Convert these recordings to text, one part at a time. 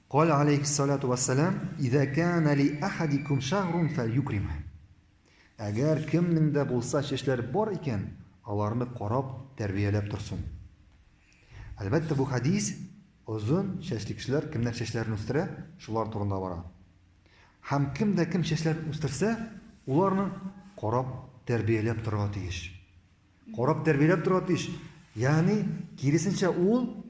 Каль алейхи салату вассалам, "Иза кана ли ахадикум шагрун фальюкрим". Әгәр кемнең дә булса чәчләр бар икән, аларны карап, тәрбияләп торсын. Әлбәттә, бу хадис озын чәчле кешеләр кемнәр чәчләрен үстерә, шулар турында бара. Һәм кем дә кем чәчләрен үстерсә, уларны карап, тәрбияләп торырга тиеш. Карап, тәрбияләп торырга тиеш. Ягъни, киресенчә, ул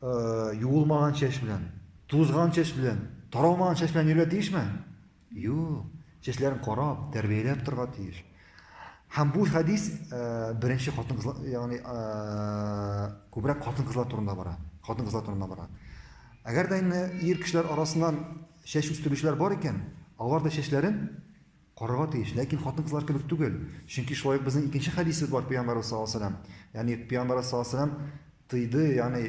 Юылмаган чәч белән, тузган чәч белән, таралмаган чәч белән йөрергә тиешме? Юк. Чәчләрен карап, тәрбияләп торырга тиеш. Һәм бу хәдис беренче хатын-кызлар, ягъни күбрәк хатын-кызлар турында бара. Хатын-кызлар турында бара. Әгәр дә инде ир кешеләр арасыннан чәч үстерүчеләр бар икән, алар да чәчләрен Карарга тиеш, ләкин хатын-кызлар кебек түгел, чөнки шулай ук безнең икенче хәдисебез бар пәйгамбәребез саллаллаһу алейһи ва сәлләм, ягъни пәйгамбәребез саллаллаһу алейһи ва сәлләм тыйды, ягъни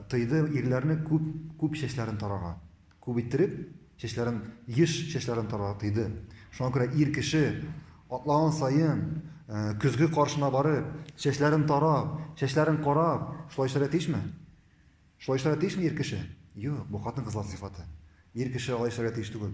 тыйды ирләрне күп, күп чәчләрен тарарга, күп иттереп чәчләрен, еш чәчләрен тарарга тыйды. Шуңа күрә ир кеше атлаган саен, көзге каршына барып, чәчләрен тарап, чәчләрен карап, шулай эшләргә тиешме? Шулай эшләргә тиешме ир кеше? Юк, бу хатын-кызлар сыйфаты. Ир кеше алай эшләргә тиеш түгел.